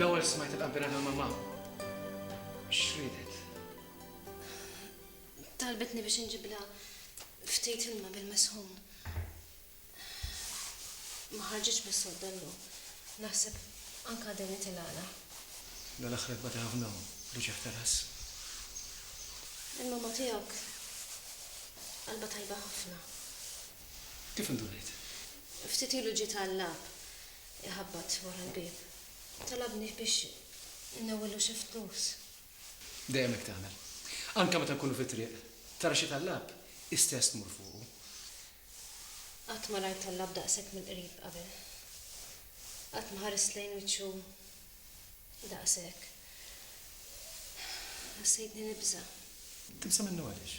L-ewwel smajt il-qabbira tal-mamma. X'ridet? Talbitni biex inġiblha ftit ilma bil-mesħun. Ma ħarġitx bis-sodda llum. Naħseb anke għadha nitilgħalha. Dan aħħar bata ħafna hu, l-uċigħ tal-għażż. Il-mamma tiegħek qalbha tajba ħafna. Kif indunajt? Ftit ilu ġiet għal-lab iħabbat wara l-bieb. Talabni biex innewwillu xi flus. Dejjem hekk tagħmel. Anke meta nkunu fit-triq, tara xi tal-lab, istess tmur fuqu. Qatt ma rajt Alla b'daqshekk mill-qrib qabel. Qatt ma ħarist lejn wiċċu daqshekk. Ħassejtni nibża'. Tibża' minnu għaliex?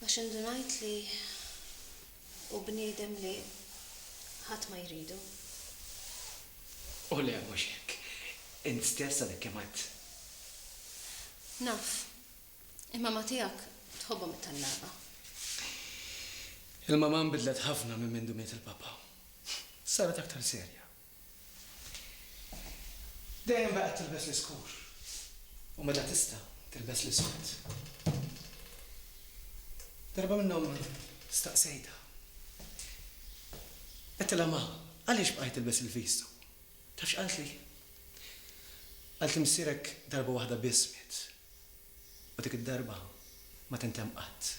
Għax indunajt li hu bniedem li ħadd ma jridu. O le, mhux hekk. Int stess għadek kemm għedt. Naf. Il-mamma tiegħek tħobbhom it-tellagħba. Il-mamma nbidlet ħafna minn mindu miet il-papà. Saret aktar serja. Dejjem baqgħet tilbes l-iskur u meta tista' tilbes l-iswed. Darba minnhom staqsejtha. Għedtilha, Ma, għaliex bqajt tilbes il-vistu? Taf x'qaltli? Qaltli missierek darba waħda biss miet. U dik id-darba ma tintemm qatt.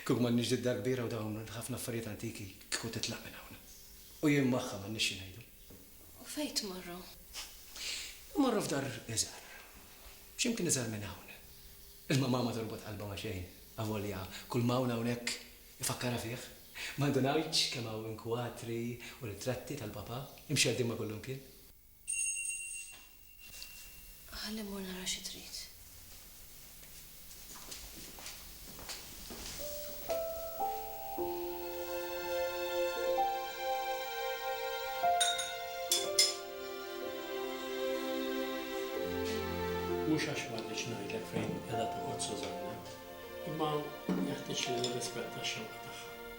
Kieku m'għandniex din id-dar kbira u dawn il-ħafna affarijiet antiki kieku titlaq minn hawn. U jien magħha m'għandniex xi ngħidu. U fejn tmorru? Immorru f'dar iżgħar. X'imkien iżgħar minn hawn. Imma mama torbot qalbha ma' xejn, avolja kull ma hawn hawnhekk ifakkarha fih. Ma ndunajtx kemm hawn kwatri u ritratti tal-Papa imxerrdin ma' kullimkien? Ħalli mmur nara xi trid. Mhux għax ma rridx ngħidlek fejn qiegħda toqgħod Susanna, imma jeħtieġ li nirrispetta x-xewqa tagħha.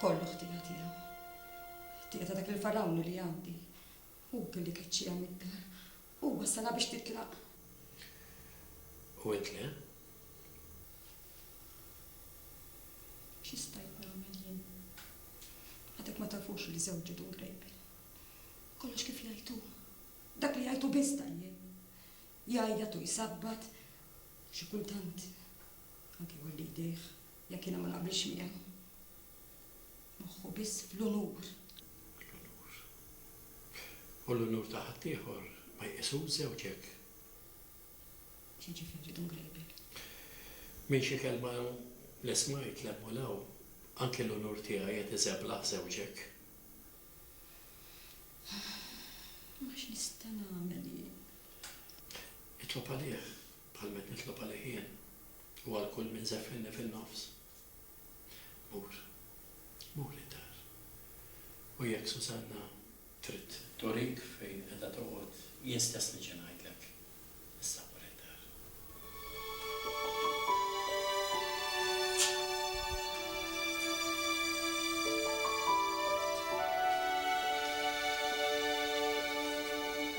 Kollu ħtija tiegħu. Ħtija ta' dak il-Fargħun li jgħaddi. Hu li keċċiha mid-dar. Hu wassalha biex titlaq. U int le? Xi stajt nagħmel jien? Għadek ma tafux li żewġi dun grejpel. Kollox kif jgħid hu. Dak li jgħid hu biss tajjeb. Jgħajjat u jsabbat. Xi kultant anke jolli jdejh. Jekk jiena ma naqbilx miegħu. Moħħu biss fl-unur. L-unur. U l-unur ta' ħaddieħor ma jqisux żewġ hekk. X'jiġifieri, Dun Grejbier? Minn xi kelma li smajt 'l hemm u 'l hawn, anki l-unur tiegħi qed iżeblaħ żewġ hekk. Imma x'nista' nagħmel jien? Itlob għalih. Bħal min jitlob għalih jien. U għal kull min żeffinni fin-nofs. Mur, mur id-dar. U jekk Susanna trid. Turik fejn qiegħda toqgħod, jien stess niġi ngħidlek, issa mur id-dar.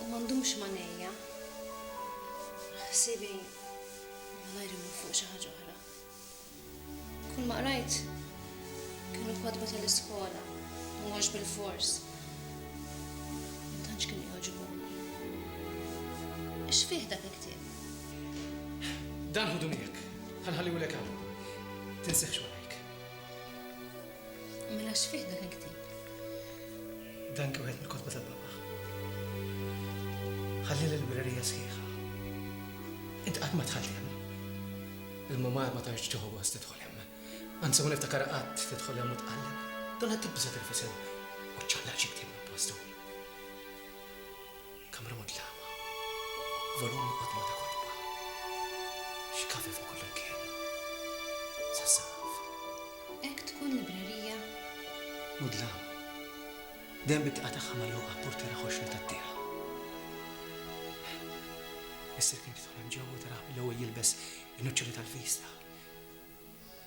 U ma ndumx m'għajnejja. Ħsiebi malajr imur fuq xi ħaġa oħra. Kull ma qrajt kienu kotba tal-iskola, mhuwiex bil-fors. Ma tantx kienu jogħġbuni. X'fih dak il-ktieb? Dan ħudu miegħek. Ħa nħalliehulek hawn. Tinsieħx warajk. Mela x'fih dak il-ktieb? Dan kien wieħed mill-kotba tal-Papa. Ħalli l-librerija sħiħa. Int qatt ma dħalt hemm. Il-mumar ma tantx tieħu gost tidħol hemm. Anzi ma niftakar qatt tidħol hemm u tqalleb. Donna tibża' tirfisel u ċċallaq xi ktieb minn postu. Kamra mudlama, volumi qodma ta' kotba, xkavi fuq kull imkien, sas-saqaf. Hekk tkun librerija? Mudlama, dejjem bit-tqgħa tagħha magħluqa b'purtiera ħoxra tat-tieħ. Missier kien jidħol hemm ġewwa u tarah mill-ewwel jilbes in-nuċċoli tal-vista.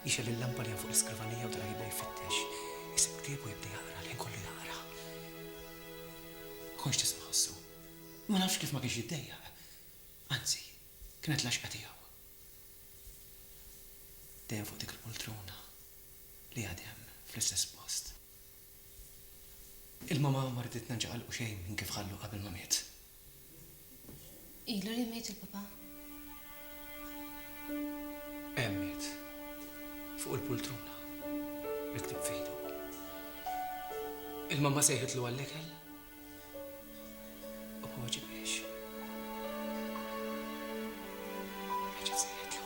Jixgħel il-lampa li hemm fuq l-iskrivanija u tara jibda jfittex. Isib ktieb u jibda jaqra, l-ħin kollu jaqra. Ma kontx tista' ħossu. Ma nafx kif ma kienx jiddejjaq. Anzi, kienet l-għaxqa tiegħu. Dejjem fuq dik il-poltrona li għad hemm fl-istess post. Il-mamà ma riditna nċaqalqu xejn minn kif ħallu qabel ma miet. Ilu li miet il-papa? Hemm miet. Fuq il-pultruna. Miktib f'idu. Il-mamma sejħitlu għall-ikel. U ma weġibhiex. Reġgħet sejħitlu.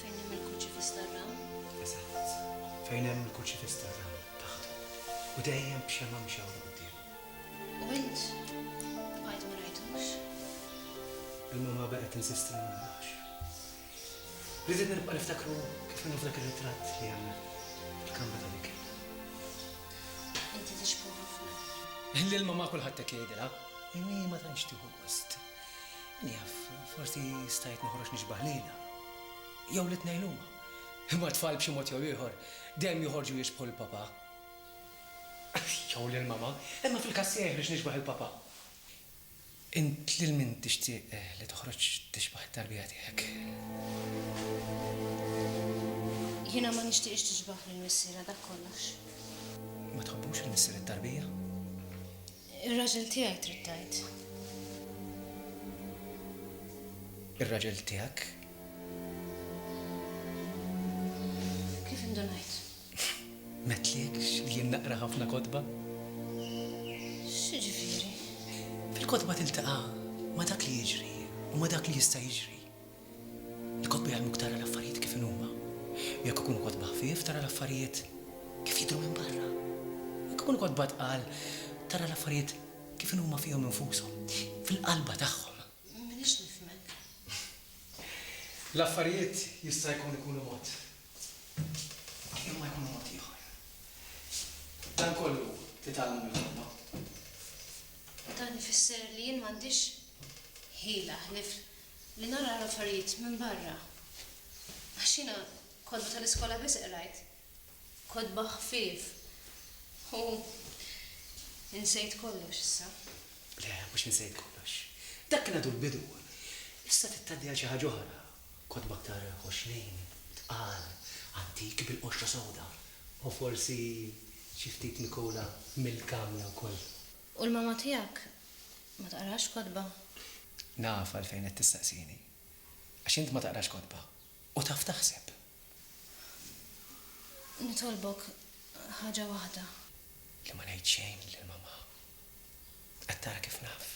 Fejn hemm il-Kurċifiss tar-Ram? Eżatt. Fejn hemm il-Kurċifiss tar-Ram, taħtu. U dejjem b'xemgħa mxawra quddiem. U int? Bqajt ma rajtux. Il-mamma baqgħet tinsisti li ma narax. Riditni nibqa' niftakru kif inhu f'dak ir-ritratt li hemm fil-kamra ta' l-ikel. Inti tixbhu ħafna. Lil mamma kulħadd hekk jgħidilha. Imma hi ma tantx tieħu gost. Min jaf, forsi stajt noħroġ nixbah lilha. Jew lit-tnejn huma. Imma t-tfal b'xi mod jew ieħor dejjem joħorġu jixbħu lill-papà. Jew lil mamà. Imma fil-każ tiegħi ħriġt nixbah il-papà. Int lil min tixtieq li toħroġ tixbah it-tarbija tiegħek? Jiena ma nixtieqx tixbah lil missierha, dak kollox. Ma tħobbux il-missier it-tarbija? Ir-raġel tiegħi trid tgħid. Ir-raġel tiegħek. Kif indunajt? M'għedtliekx li jien naqra ħafna kotba? X'jiġifieri? Il-kotba tiltaqa' ma' dak li jiġri u ma' dak li jista' jiġri. Ikompli jgħallmuk tara l-affarijiet kif inhuma. U jekk ikunu kotba ħfief, tara l-affarijiet kif jidhru minn barra. Jekk ikunu kotba tqal, tara l-affarijiet kif inhuma fihom infushom, fil-qalba tagħhom. M'iniex nifhmek. L-affarijiet jista' jkun ikunu mod, imma jkunu mod ieħor. Dan kollu titgħallmu mill-ħolma. U dan ifisser li jien m'għandix ħila ħlief li nara l-affarijiet minn barra għax jiena kotba tal-iskola biss qrajt, kotba ħfief u insejt kollox issa. Le, mhux insejt kollox. Dak kien għadu l-bidu. Issa trid tgħaddi għal xi ħaġa oħra, kotba aktar ħoxnin, tqal, antiki bil-qoxra sewda u forsi xi ftit mikula mill-kamra wkoll. U l-mamma tiegħek Ma taqrax kotba? Naf għalfejn qed tistaqsini. Għax int ma taqrax kotba. U taf taħseb. Nitolbok ħaġa waħda. Li ma ngħid xejn lil Mamma. Qed tara kif naf.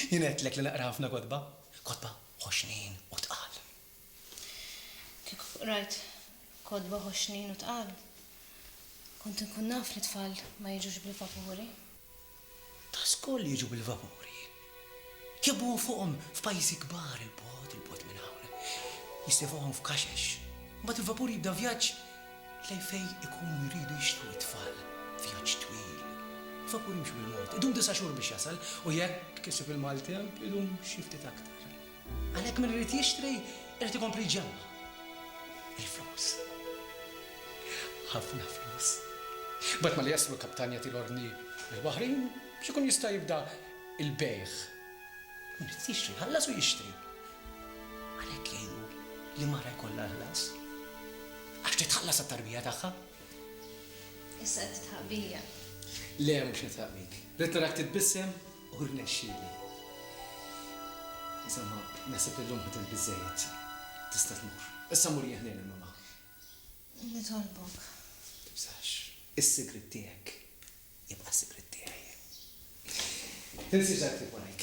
Jien għedtlek li naqra ħafna kotba. Kotba ħoxnin u tqal. Kieku qrajt kotba ħoxnin u tqal, kont inkun naf li t-tfal ma jiġux bil-vapuri. Ta' żkoll jiġu bil-vapuri. Jobbu fuqhom f'pajjiżi kbar 'il bogħod, 'il bogħod minn hawn. Jissefuhom f'kaxex. Mbagħad il-vapur jibda vjaġġ lejn fejn ikunu jridu jixtru t-tfal. Vjaġġ twil. Il-vapur jimxi bil-mod. Idum disa' xhur biex jasal u jekk isib il-maltemp, idum xi ftit aktar. Għalhekk min irid jixtri irid ikompli jġemma. Il-flus. Ħafna flus. Mbagħad mali jaslu l-kaptan jagħti l-ordni lill-waħrin biex ikun jista' jibda l-bejgħ. Min irid jixtri jħallas u jixtri. Għalhekk jgħinu li mara jkollha ħlas. Għax titħallas għat-tarbija tagħha. Issa qed titħabbija. Le mhux nitħabbik. Rid narak titbissem U rnexxieli. Insomma, naħseb li llum ħdimt biżżejjed. Tista' tmur. Issa mur jieħni lil Mama. Nitolbok. Tibżax. Is-sigriet tiegħek jibqa' s-sigriet tiegħi. Tinsiex dak li ktib warajk.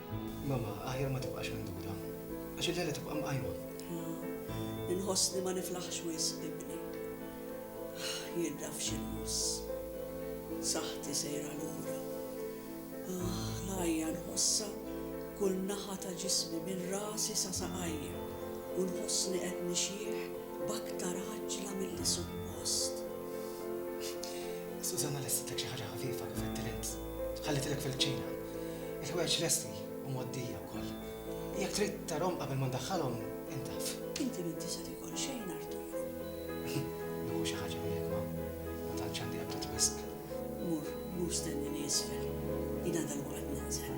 Mama, aħjar ma tibqax minduda. Għax il-lejla tibqa' mqajma. Ħa, inħossni ma niflaħx wisq, ibni. Jien naf x'inħoss. Saħħti sejra lura. Aħ, l-għajja nħossha kull naħa ta' ġismi minn rasi sa saqajja u nħossni qed nixjieħ b'aktar għaġġla milli suppost. Sużanna lestitlek xi ħaġa ħafifa kif għedtilha int. Ħallitilek fil-kċina. Il-ħwejjeġ lesti u mgħoddija wkoll. Jekk trid tarhom qabel ma ndaħħalhom, intaf. Inti m'inti se tiekol xejn, Arturo. Nieħu xi ħaġa miegħek ma. Ma tantx għandi apptit wisq. Mur, mur stennini isfel. Jiena dalwaqt ninżel.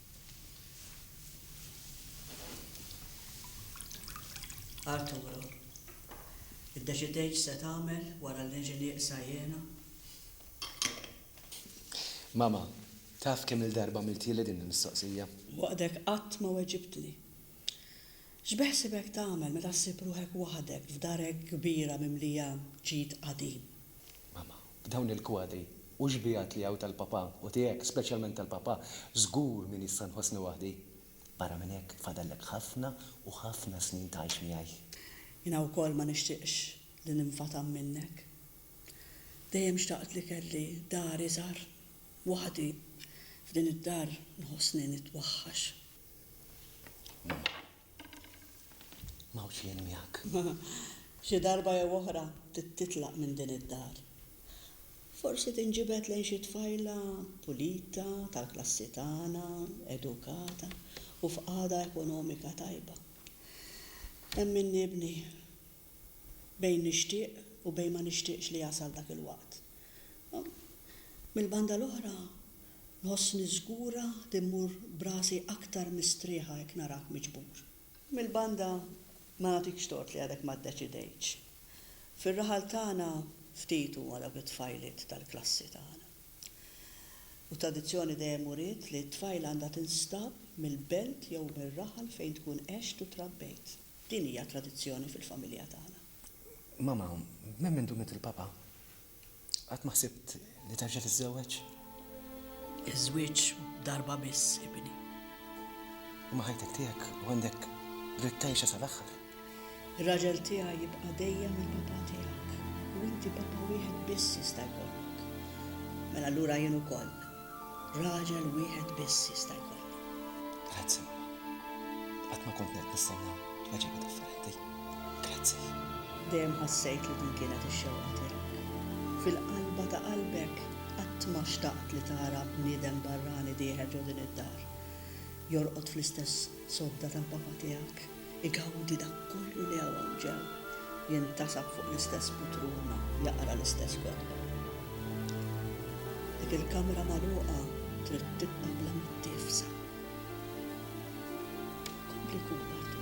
Arturo, iddeċidejt x'se tagħmel wara li niġi nieqsa jiena? Mama, taf kemm-il darba għamiltieli din il-mistoqsija? Waħdek qatt ma weġibtli. X'beħsibek tagħmel meta ssib ruħek waħdek f'dar hekk kbira mimlija ġid qadim? Mama. B'dawn il-kwadri u x-xbiehat li hawn tal-Papà u tiegħek, speċjalment tal-Papà, żgur min issa nħossni waħdi. Barra minn hekk, fadallek ħafna u ħafna snin tgħix miegħi. Jiena wkoll ma nixtieqx li ninfatam minnek. Dejjem xtaqt li kelli dar iżgħar, waħdi. F'din id-dar nħossni nitwaħħax. Ma hawnx jien miegħek. Xi darba jew oħra trid titlaq minn din id-dar. Forsi tinġibed lejn xi tfajla pulita, tal-klassi tagħna, edukata u f'qagħda ekonomika tajba. Emminni ibni, bejn nixtieq u bejn ma nixtieqx li jasal dak il-waqt. Mill-banda l-oħra, Nħossni żgura li mmur b'rasi aktar mistrieħa jekk narak miġbur. Mill-banda ma nagħtikx tort li għadek ma ddeċidejtx. Fir-raħal tagħna ftit huma dawk it-tfajliet tal-klassi tagħna. U t-tradizzjoni dejjem uriet li t-tfajla għandha tinstab mill-belt jew mir-raħal fejn tkun għext u trabbejt. Din hija tradizzjoni fil-familja tagħna. Mama, minn mindu miet il-papa, Qatt ma ħsibt li terġa' tiżżewweġ? Iż-żwieġ darba biss, ibni. Imma ħajtek tiegħek u għandek dritt tgħixha sal-aħħar. Ir-raġel tiegħi jibqa' dejjem il-papà tiegħek u inti papà wieħed biss jista' jkollok. Mela allura jien ukoll Raġel wieħed biss jista' jkollu. Grazzi, mamma. Qatt ma kont qed nistenna tweġiba differenti. Grazzi. Dejjem ħassejt li din kienet ix-xewqa tiegħek. Fil-qalba ta' qalbek qatt ma xtaqt li tara bniedem barrani dieħel ġo din id-dar, jorqod fl-istess sodda tal-papa tiegħek. Igawdi dak kollu li hawn ġemm, jintasab fuq l-istess putruna, jaqra l-istess kotba. Dik il-kamra magħluqa trid tibqa' bla mittiefsa. Kompli kun waħdu.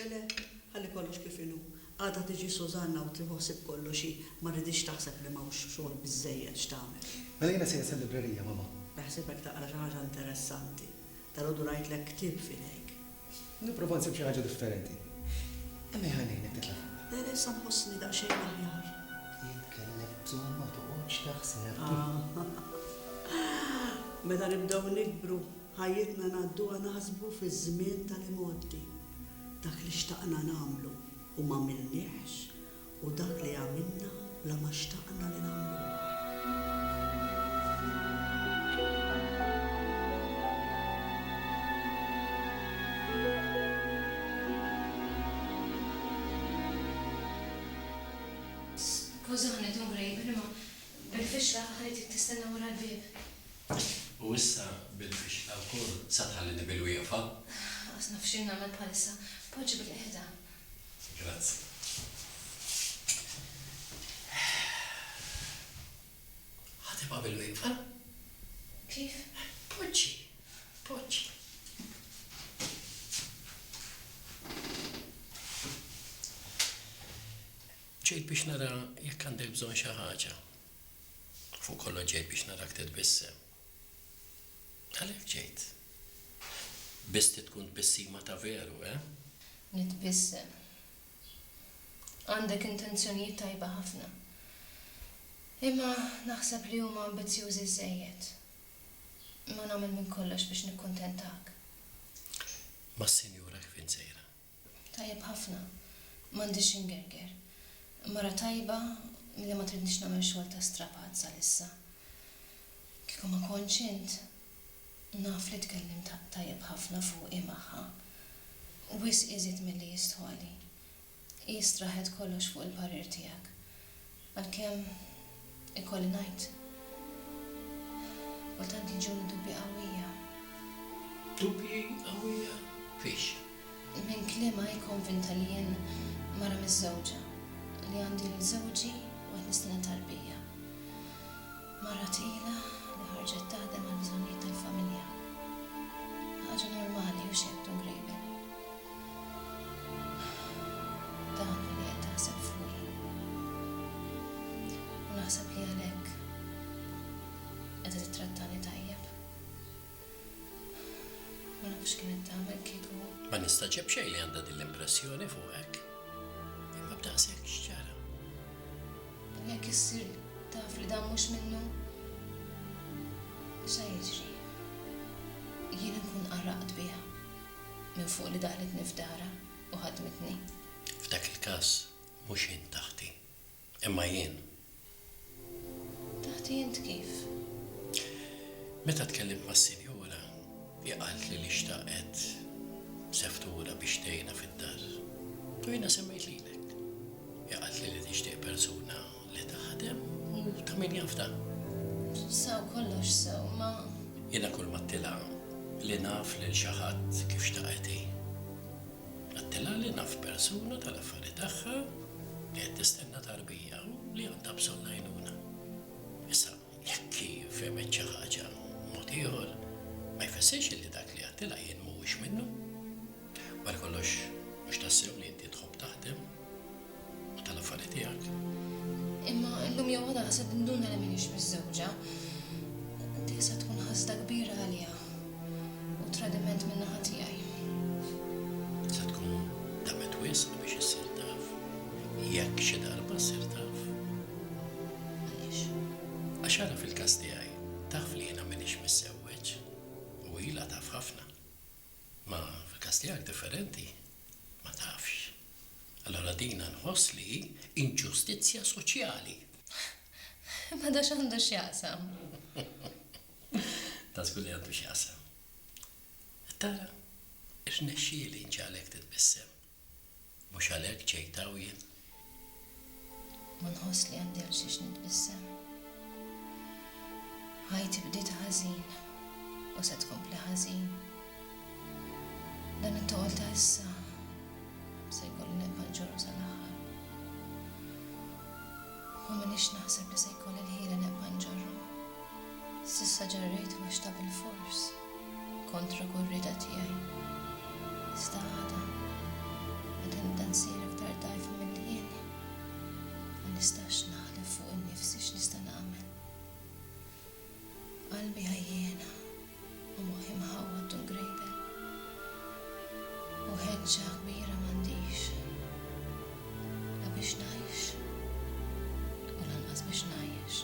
Le, le, ħalli kollox kif inhu. Għada tiġi Susanna u tieħu ħsieb kollox hi. Ma rridhiex taħseb li m'hawnx xogħol biżżejjed x'tagħmel. Mela jiena sejjer sal-librerija, Mamma. Beħsibek taqra xi ħaġa interessanti? Dalgħodu rajtlek ktieb f'idejk. Nipprova nsib xi ħaġa differenti. Imma ħa ngħinek titla' fuq. Le le issa nħossni daqsxejn aħjar. Jekk kellek bżonn ma toqgħodx taħseb. Meta nibdew nikbru, ħajjitna ngħadduha naħsbu fiż-żmien tal-imgħoddi. Dak li xtaqna nagħmlu u m'għamilniehx, u dak li għamilna bla ma xtaqna li nagħmluha. Skużani, Dun Grejber, imma bil-fixla aħħar trid tistenna wara l-bieb. U issa bil-fixla wkoll sa tħallini bil-wieqfa? Lanqas naf x'inagħmel bħalissa. Poġġi bil-qegħda. Grazzi. Ħatibha bil-wieqfa? Kif? Poġġi, poġġi. Ġejt biex nara jekk għandek bżonn xi ħaġa. Fuq kollox ġejt biex narak titbissem. Għalhekk ġejt. Biss trid tkun tbissima ta' veru, eh? Nitbissem. Għandek intenzjonijiet tajba ħafna. Imma naħseb li huma ambizzjużi żżejjed. Imma nagħmel minn kollox biex nikkuntentak. Mas-Sinjura kif int sejra? Tajjeb ħafna. M'għandix xi ngerger. Mara tajba li ma tridnix nagħmel xogħol ta' strapatt salissa. Kieku ma kontx int, naf li tkellimt tajjeb ħafna fuqi magħha. Wisq iżjed milli jistħoqli. Hi straħet kollox fuq il-parir tiegħek. Għalkemm, ikolli ngħid, kultant jiġuni dubji qawwija. Dubji qawwija fiex? Minn kliem hi konvinta li jien mara miżżewġa, li għandi lil żewġi u qed nistenna tarbija. Mara tqila li ħarġet taħdem għall-bżonnijiet tal-familja. Ħaġa normali, hux jgħid Dun Grejben. Dan hu li qed taħseb fuqi. U naħseb li għalhekk qiegħda tittrattani tajjeb. Ma nafx x'kienet tagħmel kieku. Ma nistagħġeb xejn li għandha din l-impressjoni fuqek. Imma b'daqshekk x'ġara? U jekk issir taf li dan mhux minnu? X'se jiġri? Jien inkun qarraqt biha minn fuq li daħlitni f'darha u ħadmitni. F'dak il-każ mhux int aħti. Imma jien. Taħti int kif? Meta tkellimt mas-sinjura, hi qaltli li xtaqet seftura biex tgħinha fid-dar. U jiena semmejt lilek. Hi qaltli li tixtieq persuna li taħdem u ta' min jaf dan. Sew kollox sew, imma. Jiena kull ma għedtilha li naf lil xi ħadd kif xtaqet hi. Għedtilha li naf persuna tal-affari tagħha. Qed tistenna tarbija li għandha bżonn għajnuna. Issa, jekk hi fehmet xi ħaġa b'mod ieħor, ma jfissirx li dak li għedtilha jien mhuwiex minnu. Wara kollox, mhux tassew li inti tħobb taħdem u tal-affari tiegħek. Imma llum jew għada se tinduna li m'iniex miżżewġa. Dik se tkun ħasda kbira għalija. U tradiment min-naħa tiegħi. Se tkun damet wisq biex issir taf, jekk xi darba ssir taf. Għaliex? Għax ara fil-każ tiegħi, taf li jiena m'iniex miżżewweġ u ilha taf ħafna. Imma fil-każ tiegħek differenti, ma tafx. Allura dina nħoss li hi inġustizzja soċjali. Imma da x'għandu x'jaqsam? Ta' żgur li għandu x'jaqsam. Qed tara? Irnexxieli nġagħlek titbissem. Mhux għalhekk ġejt hawn jien? Ma nħoss li għandi għal xiex nitbissem. Ħajti bdiet ħażin u se tkompli ħażin. Dan it-toqol ta' issa se jkollu nibqa' ġuru sal-aħħar. Ma minix naħseb li se jkolli l-ħila nibqa' nġorru. S'issa ġerrejtu għax ta' bilfors, kontra kull rieda tiegħi. Iżda għada, meta nibda nsir iktar dgħajfa milli jieni, ma nistax naħlef fuq innifsi x'nista' nagħmel. Qalbi għajjiena u moħħi mħawwad tul grejben, u ħeġġa kbira m'għandix, la biex ngħix u lanqas biex ngħajjex.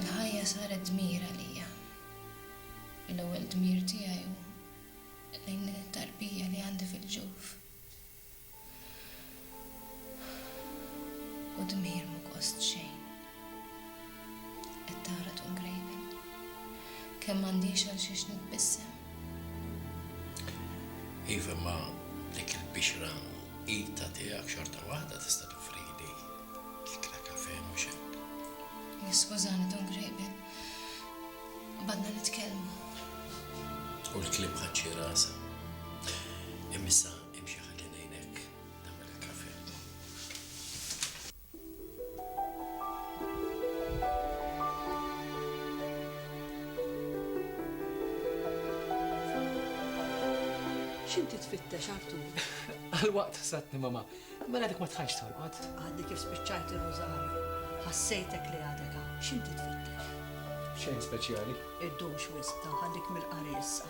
Il-ħajja saret dmir għalija, u l-ewwel dmir tiegħi hu lejn din it-tarbija li għandi fil-ġuf. U dmir mhu gost xejn. Qed tara tqum grejben. Kemm m'għandix għal xiex nitbissem. Iva, imma dik il-bixra qietha tiegħek xorta waħda tista' toffrili ikla kafè, mhux hekk? Iskużani, Dun Grejben. Badna nitkellmu. U l-kliem ħadd xi rasa. Imissa Imxi ħalli ngħinek nagħmel il-kafè. X'inti tfittex, Artur? Għalwaqt ħsabtni mamà. Mela dik ma tħallx torqod. Għadni kif spiċċajt ir-Rużarju. Ħassejtek li għadek hawn. X'inti tfittex? Xejn speċjali. Iddumx wisq, tanħallik mill-qari issa.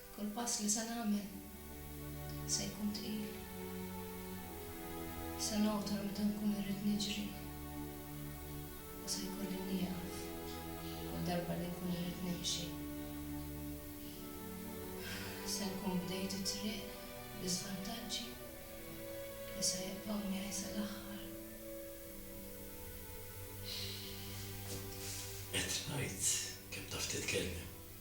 Kull pass li se nagħmel se jkun tqil. Se ngħotor meta nkun irrid niġri u se jkolli nieqaf kull darba li nkun irrid nimxi. Se nkun bdejt it-triq bi żvantaġġi li se jibqgħu miegħi sal-aħħar. Qed ngħid kemm taf titkellem.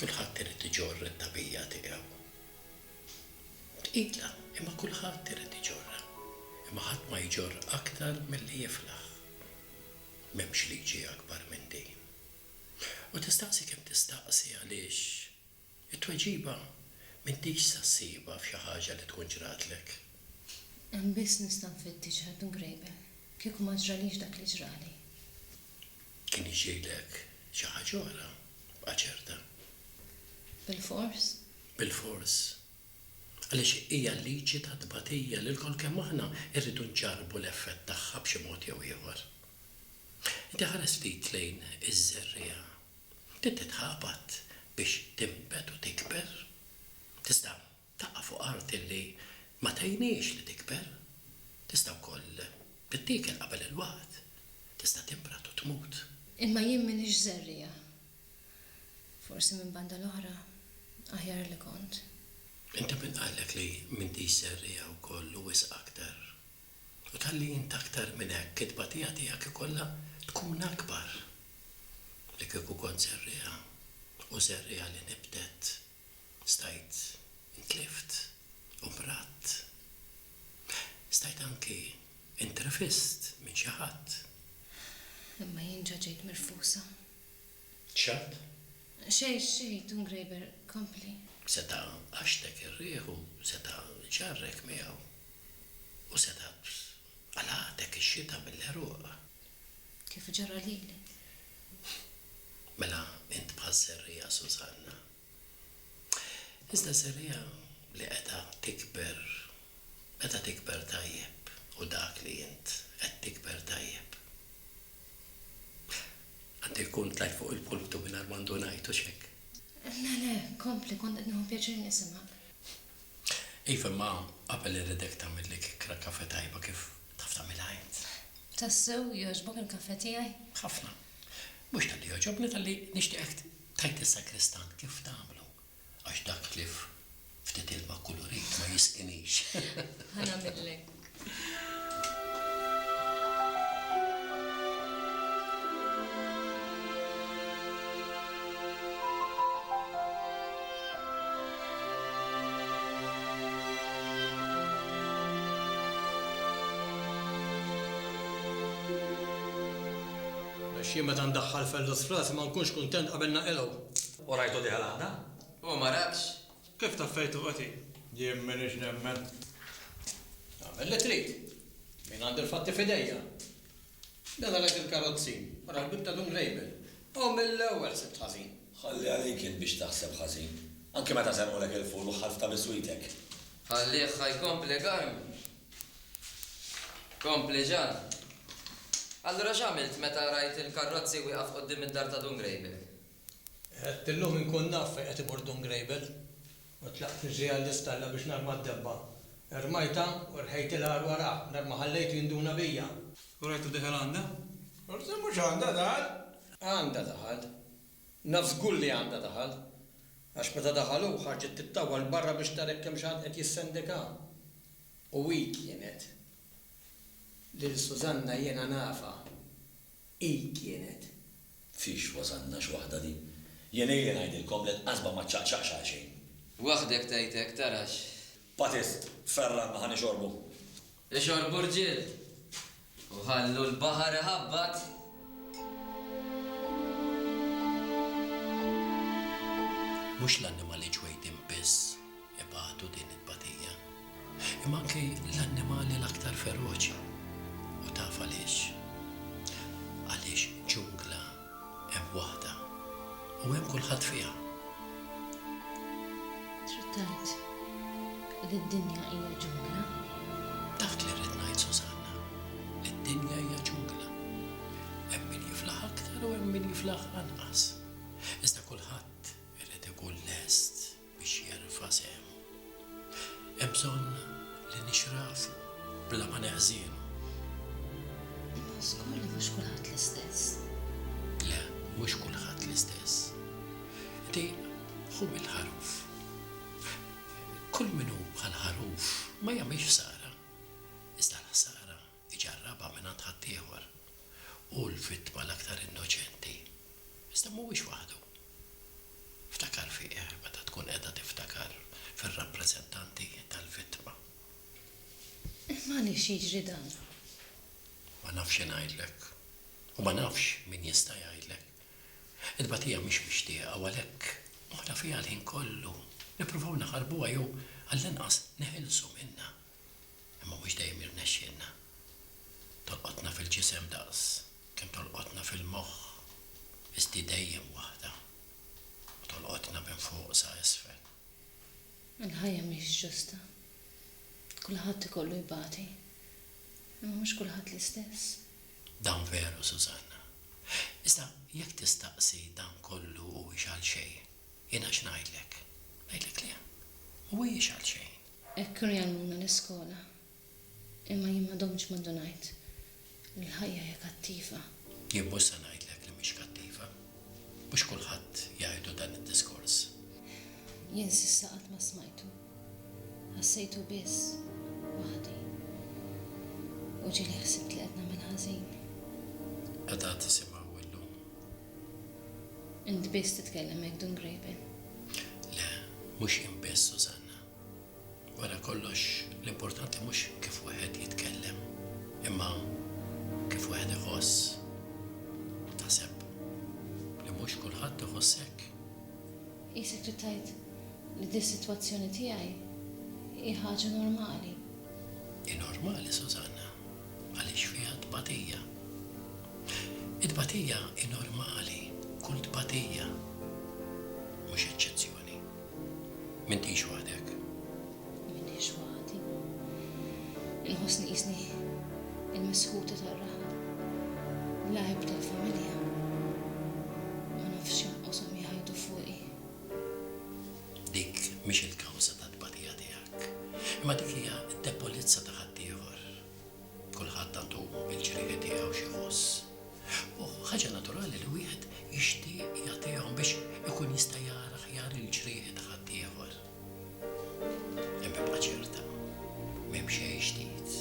Kulħadd irid iġorr it-tagħbija tiegħu. Tqila, imma kulħadd irid iġorrha. Imma ħadd ma jġorr aktar milli jiflaħ. M'hemmx liġi akbar minn din. U tistaqsi kemm tistaqsi għaliex, it-tweġiba m'intix sa ssibha f'xi ħaġa li tkun ġratlek. Hemm biss nista' nfittiċ ħed mgrejbel. Kieku ma ġralix dak li ġrali. Kien jiex jgħidlek xi ħaġa oħra, bqa' ċerta. Bilfors? Bilfors. Għaliex hija l-liġi tat-tbatija li lkoll kemm aħna rridu nġarrbu l-effett tagħha b'xi mod jew ieħor. Inti ħares ftit lejn iż-żerriegħa. Din titħabat biex tinbet u tikber. Tista' Taqa' fuq art illi ma tgħinhiex li tikber. Tista' wkoll tittiekel qabel il-waqt. Tista' timbrad u tmut. Imma jien m'iniex żerriegħa. Forsi minn banda l-oħra, aħjar li kont. Inti min qallek li m'intix żerriegħa wkoll u wisq aktar? U talli int aktar minn hekk, it-tbatija tiegħek ikollha tkun akbar. Li kieku kont żerriegħa, u żerriegħa li nibtet. Stajt intlift u mradt. Stajt anki intrefist minn xi ħadd. Imma jien ġa ġejt mirfusa. X'għad? Xejn, xejn, Dun Grejber, kompli. Seta' għaxtek ir-riħ u seta' ġarrek miegħu. U seta' qalagħtek ix-xita mill-għeruq. Kif ġara lili. Mela int bħal serriegħa Sużanna. Iżda serriegħa li qiegħda tikber, qiegħda tikber tajjeb u dak li int qed tikber tajjeb. Għandu jkun tlajt fuq il-pulpitu mingħajr ma għandu ngħid, hux hekk? Le, le, kompli, kont qed nieħu pjaċir nisimgħek. Iva, imma qabel irridek tagħmilli kikra kafe tajba kif Taf tagħmilha int. Tassew jogħġbok il-kafè tiegħi? Ħafna. Mhux talli jogħġobni talli nixtieqek tgħid lis-sagristan kif tagħmlu għax dak li ftit ilma kulurit ma jisqinix. Ħa nagħmillek. Xi meta ndaħħal fellus f'rasi ma nkunx kuntent qabel naqilgħu. U rajtu diha l-għada? U ma rakx? Kif taffejtu qoti? Jien m'iniex nemmen. Agħmel li trid. Jien għandi l-fatti f'idejja. Daħalek il-karozzi, wara l-bieb ta' Dun Label. U mill-ewwel sibt ħażin. Ħalli għalik int biex taħseb ħażin. Anki meta serqulek il-ful u ħalfta biswitek. Ħallih ħa jkompli garm. Kompli ġar. Allura x'għamilt meta rajt il-karrozzi wieqaf quddiem id-dar ta' Dun Grejbel? Għedtillhom inkun naf fejn qed imur Dun Grejbel. U tlaqt fiżi għall-istalla biex narma d-debba. Rmajtha u rħejt il-agħar wara, mingħajr ma ħallejtu jinduna bija. U rajtu deħel għandha. Forsi mhux għandha daħal. Għandha daħal. Naf żgur li għandha daħal. Għax meta daħal hu, ħarġet tittawwal barra biex tara hekk hemmx ħadd qed jissendika. U hi kienet. Lil Susanna jiena nafha. Hi kienet. Fiex wasalna x' waħda din. Jien ili ngħidilkom li l-qasba ma ċċaqċaqx għalxejn. Waħdek tgħid hekk, tara x'. Patist, Ferran ma ħa nixorbu. Ixorbu rġiel! U ħallu l-baħar iħabbat! Mhux l-annimali ġwejdin biss. ibatu din it-tbatija, imma anki l-annimali l-aktar feroċi. U taf għaliex? Għaliex ġungla hemm waħda u hemm kulħadd fiha. Trid tgħid li d-dinja hija ġungla? Dak li rrid ngħid Susanna, li d-dinja hija ġungla. Hemm min jiflaħ aktar u hemm min jiflaħ anqas. Iżda kulħadd irid ikun lest biex jerfa' sehmu. Hemm bżonn li nixrafu bla ma neħżienu. Imma żgur mhux kulħadd l-istess. Le, mhux kulħadd l-istess. Inti ħu mill-ħaruf. Kull min hu bħall-ħaruf ma jagħmilx ħsara. Iżda l-ħsara iġarrabha mingħand ħaddieħor, hu l-vittma l-aktar innoċenti. Iżda mhuwiex waħdu. Ftakar fih meta tkun qiegħda tiftakar fir-rappreżentanti tal-vittma. Imma għaliex jiġri dan? Ma nafx xi ngħidlek. U ma nafx min jista' jgħidlek. It-tbatija mhix mixtieqa u għalhekk moħħna fiha l-ħin kollu. Nippruvaw naħarbuha jew għallinqas neħilsu minnha. imma mhux dejjem jirnexxielna. Tolqotna fil-ġisem daqs kemm tolqotna fil-moħħ, iżd hi dejjem waħda u tolqotna minn fuq sa isfel. Il-ħajja mhix ġusta. Kulħadd ikollu jbati, imma mhux kulħadd l-istess. Dan veru, Susanna. Iżda jekk tistaqsi dan kollu huwiex għalxejn, jiena x'ngħidlek? Ngħidlek le, mhuwiex għalxejn. Hekk kienu jgħallmuna l-iskola. Imma jien ma domtx ma ndunajt li l-ħajja hija kattiva. Jien mhux se ngħidlek li mhix kattiva. Mhux kulħadd jgħidlu dan id-diskors. Jien s'issa qatt ma smajtu. Ħassejtu biss waħdi. U ġieli ħsibt li qed nagħmel ħażin. Qegħda tisimgħu illum? Int biss titkellem hekk Dun Graybill. Le, mhux jien biss, Susanna. Wara kollox, l-importanti mhux kif wieħed jitkellem, imma kif wieħed iħoss. U taħseb li mhux kulħadd iħoss hekk? Qisek trid tgħid li dis-sitwazzjoni tiegħi hi ħaġa normali. Hi normali, Susanna, għaliex fiha tbatija. It-tbatija hi normali, kull tbatija, mhux eċċezzjoni. M'intix waħdek. M'iniex waħdi. Inħossni qisni l-misħuta tar-raħal. L-għajb tal-familja. Ma nafx kemm qoshom jgħidu fuqi. Dik mhix il-kawża tat-tbatija tiegħek. Imma dik hija d-debolezza ta' ħaddieħor. Kulħadd għandu l-ġrieħi tiegħu x'jħoss. U ħaġa naturali li wieħed jixtieq jagħtihom biex ikun jista' jara aħjar il-ġrieħi ta' ħaddieħor. Imma ibqa' ċerta, m'hemm xejn ġdid.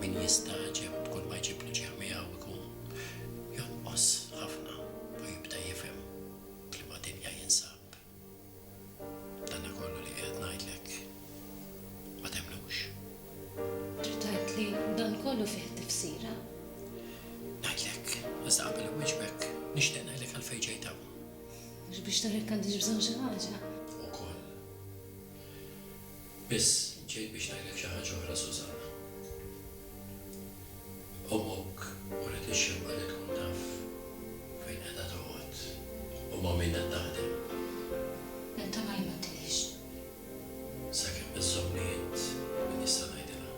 Min jistagħġeb b'kull ma jġiblu ġieħ miegħu jkun jonqos ħafna u jibda jifhem f'liema dinja jinsab. Dana kollu li qiegħed ngħidlek ma temmnux. Trid tgħid li dan kollu fih tifsira? Ngħidlek, iżda qabel inwieġbek nixtieq ngħidlek għalfejn ġejt hawn. Mhux biex nurek għandix bżonn xi ħaġa? Ukoll. Biss, ġejt biex ngħidlek xi ħaġa oħra, Susan. Ommok uriet ix-xewqa li tkun taf fejn qiegħda toqgħod u ma' min qed taħdem. Nittama li ma għedtilhiex. Sakemm iżżommni int min jista' ngħidilha.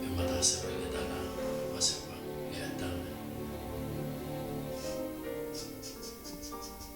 Imma taħsebli li dan huwa sewwa li qed tagħmel?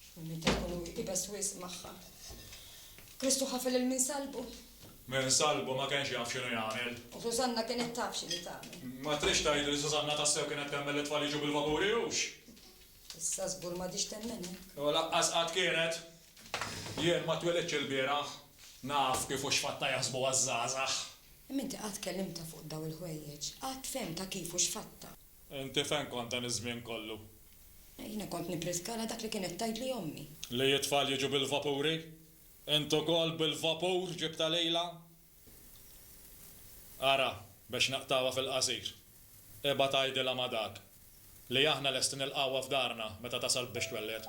X'minn min taqtlu hu ibes wisq magħha. Kristu ħafel lil min salbu. Min salbu ma kenx jaf x'inhu jagħmel. U Susanna kienet taf x'inhi tagħmel. Ma tridx tgħid li Susanna tassew kienet temmen li t-tfal jiġu bil-vapuri, hux? Issa żgur m'għadhiex temmen hekk. U laqqas qatt kienet. Jien ma twelidtx ilbieraħ. Naf kif u x'fatta jaħsbuha ż-żgħażagħ. Imma inti qatt kellimtha fuq dawn il-ħwejjeġ? Qatt fehmtha kif u x'fatta? Inti fejn kont dan iż-żmien kollu? Jiena kont nippriskala dak li kienet tgħidli ommi. Li t-tfal jiġu bil-vapuri? Int ukoll bil-vapur ġibtha lilha? Ara, biex naqtgħuha fil-qasir, ibgħat għidilha ma' dak, li aħna lesti nilqgħuha f'darna meta tasal biex twelled.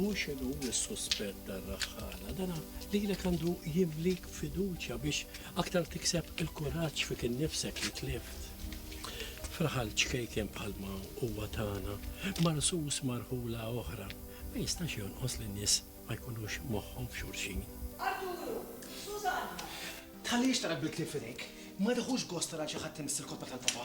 U xinu s-suspett tar-raħħana dana li l għandu jimlik fiduċja biex aktar tikseb il-kuraġġ fik innifsek li tlift. Fraħal ċkejken bħalma huwa tagħna, marsus marħula oħra, ma jistax jonqos li nies ma jkunux moħħhom f'xulxin. Arturu, Susanna! Tħallix tara bil-klieb f'idejk. Ma tieħux gost tara xi ħadd imiss il-kotba tal-papa.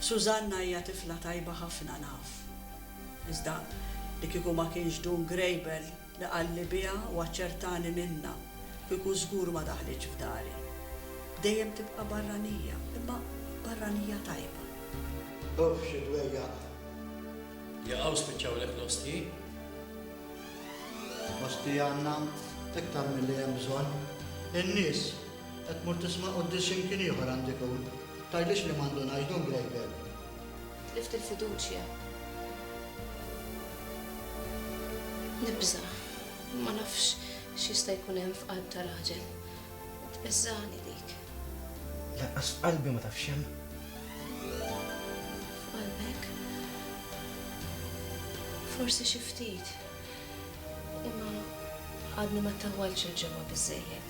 Susanna hija tifla tajba ħafna naf. Iżda li kieku ma kienx Dun Grejbel li qalli biha u aċċertani minnha, kieku żgur ma daħlitx f'dari. Dejjem tibqa' barranija, imma barranija tajba. Uff xi dwejjaq! Jaqaw spiċċawlek l-ostji? Ostji għandna iktar milli hemm bżonn. In-nies Qed tmur tisma' quddies imkien ieħor għand ikun. Tgħidlix li m'għandu ngħidu ngrejbel. Tlift il-fiduċja. Nibża'. Ma nafx x'jista' jkun hemm f'qalb ta' raġel. Tbeżżagħni dik. Lanqas f'qalbi ma taf x'hemm. F'qalbek? Forsi xi ftit. Imma għadni ma ttawwaltx il-ġewwa biżżejjed.